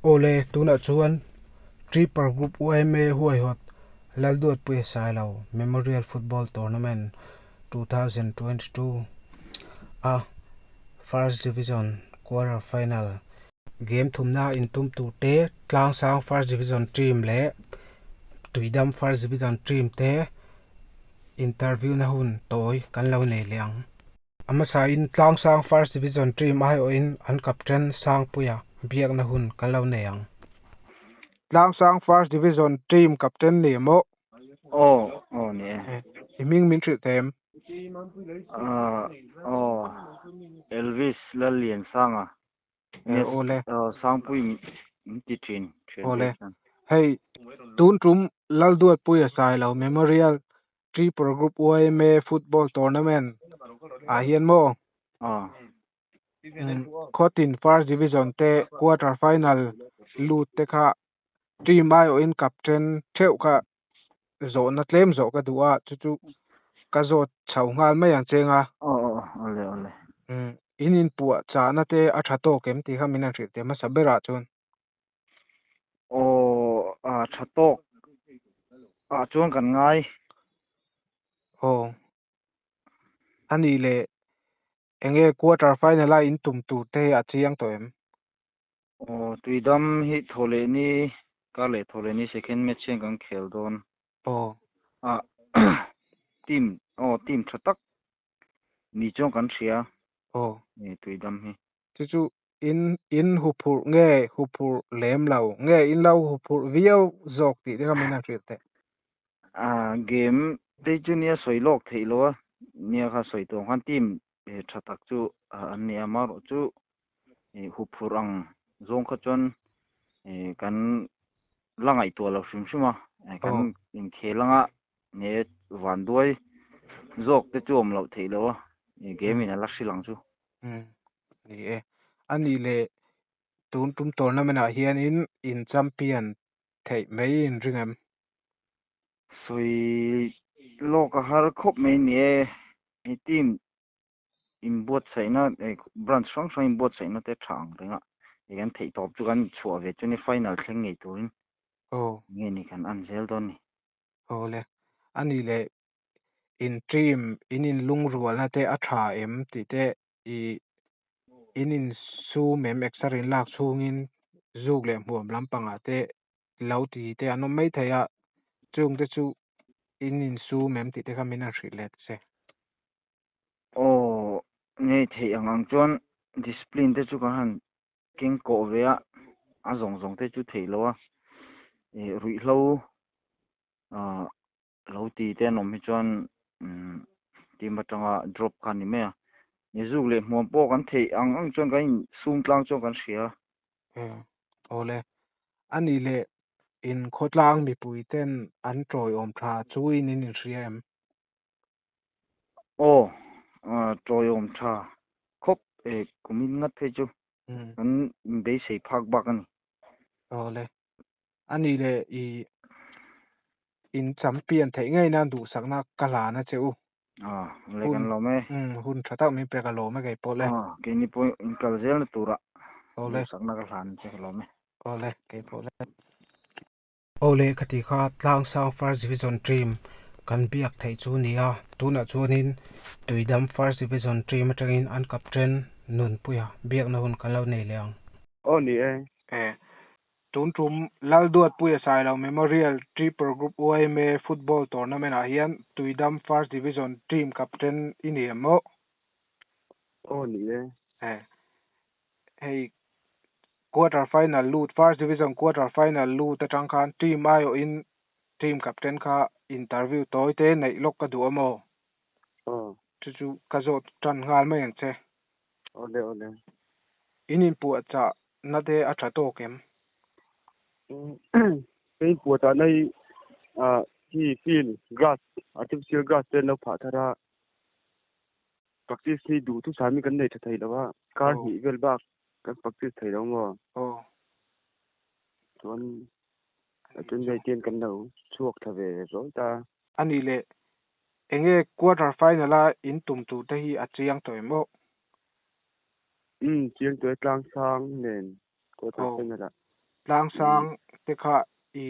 Awle, tunah chuan Tripper Group UMA huaihawt Lalduatpuia Sailo Memorial Football Tournament 2022 a First Division Quarter Final game thumna intum tur te Tlangsang First Division Team leh Tuidam First Division Team te interview na hun tawi kan lo nei leh ang. A hmasa in tlang sang first division team ai awh in an captain Sangpuia biak na hun ka lo nei ang. Tlang sang first division team captain ni emaw? Aw aw ni e. I hming min hrilh ta em? Aw aw Elvis Lalliansang a. Yes awle. Sangpui min ti thin thian te chuan. Awle. Hei tun tum Lalduatpuia Sailo memorial tripura group yma football tournament ah hian maw ah khawtin first division te quarter final lut te kha team aiawh in kap ṭhen ṭheuh kha zawhna tlem zawh ka duh a chu chu ka zawt chho nghal mai ang cheng a in inpuah chahna te a ṭha tawk em tih kha min han hrilh theih hmasa berah chuan. Aw a tha tawk ah chuan kan ngai. Aw a nih leh eng nge quarter final a intum tur te hi a chiang tawh em? Aw tui dam hi Thawhlehni kar leh Thawhlehni second match hian kan khel dawn. Aw a team aw team tha tak ni chuan kan hria. Aw. Tui dam hi. chu chu in in huphurh nge huphurh lem lo nge in lo huphurh viau zawk tih te kha min han hrilh theih. Ah game te chu nia sawi lawk theih lo a nia kha sawi tuam khan team he tha tak chu an ni a amaherawh chu ih huphurh ang zawng kha chuan ih kan la ngaihtuah lo hrim hrim a kan inkhel anga nge vanduai zawk te chu awm loh theih lo a ih game in a la hrilh ang chu. Umm ni e. A nih leh tun tum tawrhna menah hianin in champion theih mai in ring em? Sawi lawka har khawp mai ni e. I team in buatsaihna eh branch hrang hrang in buatsaihna te tha ang reng a i kan theih tawp chu kan chhuah ve chu ni final thleng ngei turin. Aw. Nge ni kan an zel dawn ni. Aw le. A nih leh intîm, in inlungrualna te a ṭha em tih te i in insûm em exer in lâk chhûngin zûk leh hmuam lampangah te i lo ti te an awm maithei a, chûng te chu in insûm em tih te kha min han hrih leh ta se. Aw, ngei theih ang ang chuan discipline te chu ka han keng kawh ve a, a zawng zawng te chu theih lo a, ruihhlo Lo ti te an awm hi chuan team atanga drop kha a ni mai a, ni zuk leh hmuam pawh kan theih ang ang chuan kan insum tlang chuan kan hria. Eng, awle, a nih leh in khawtlang mipui ten an tawi awm tha chu in in inhria em? Aw, tawi awm tha khawp e, kum in ngat phei chu kan inbeisei phak bak a ni. Awle, a nih leh i inchampian theih ngei nan duhsakna ka hlan a che u. Ah, le kan lawm e. Um, hun tha tak min pek a lawm e kei pawh le. Ah, kei ni pawh in kal zel na tura duhsakna ka hlan che ka lawm e. Aw le, kei pawh le. Aw le ka ti kha, tlang sang first division team kan biak theih chu nia. Tunah chuanin Tuidam first division team atangin an captain Nunpuia biakna hun ka lo nei leh ang. Aw ni e. Eh, Tum tum, Lalduatpui a sailo Memorial Triple Group UIMA Football Tournament ah hian Tuidam First Division team captain i ni em maw? Aw ni e. He hei quarter final lut first division quarter final lut atang khan team aiawh in team captain kha interview tawi te neih lawk ka duh a maw? Aw. Chu chu ka zawt tan nghal mai ang che. Awle awle. In in puah chah na te a tha tawk em? Ka in puah chah na hi ah hi field grass artificial grass te an lo phah thar a. Practice hi duh thu sami kan nei tha thei lo a. Car hnih vel bak kan practice thei lo maw? Oh. Chuan a chen vel ten kan lo chhuak tha ve zawk ta. Ani le Enge quarter final a in tum tur te hi a chiang tawh em aw? Umm chiang tawh e tlang sang nen quarter final ah. Tlang sang te kha i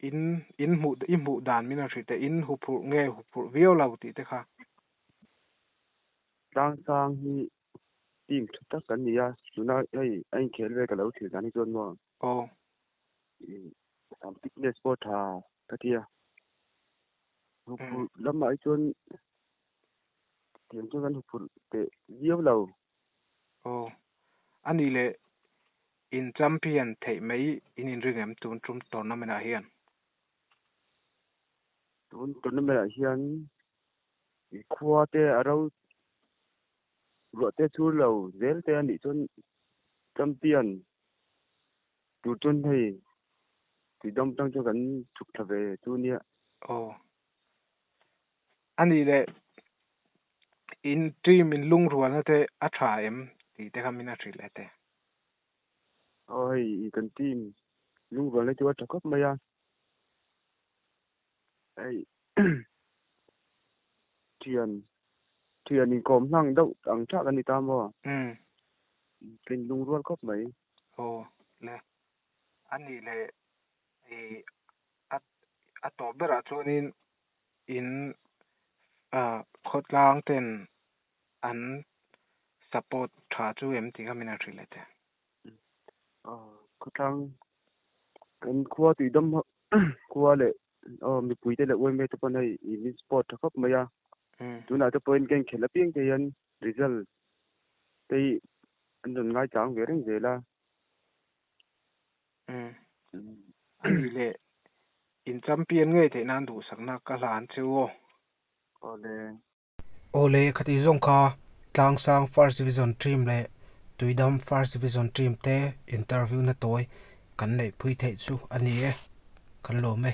in in hmuh i hmuh dan min a hri te in huphurh nge huphurh viau lo tih te kha. Tlang sang hi team tha tak kan nia tuna hei a inkhel vel ka lo thlir dan hi chuan maw aw sam fitness pawh tha ka tia hupur lamah hi chuan tiang chuan kan hupur te viau lo aw ani le in champion thei mai in in ring em tun tum tournament ah hian tun tournament ah hian Khua te a ro ruah te chur lo zel te a nih chuan champion tur chuan hei tui dam tang chuan kan chhuk thla ve chu nia. Aw. A nih leh in team in lungrualna te a tha em tih te kha min a hrilh e te. Aw hei kan team lungrualna chu a tha khawp mai a. Hei thian thian in kawm hlang deuh ang tha kan ni ta maw? Umm. Tlin lung rual khawp mai. Aw le. A nih leh i a a tawp berah chuanin in a khawtlang ten an support tha chu em tih kha min han hrilh leh teh. Khawtlang kan khua tih dam ho khua leh mipuite leh uaim vet te pawh an hei in min support tha khawp mai a tunah te pawhin keng khelh apiang te hian result te hi an rawn ngaitlang ve reng zel a ani le in champion ngei theih nan duhsakna ka hlan che u aw awle Aw le, khati zawng kha Tlangsang First Division Team leh Tuidam First Division Team te interview na tawi kan neihpui theih chu a ni e, kan lawm e.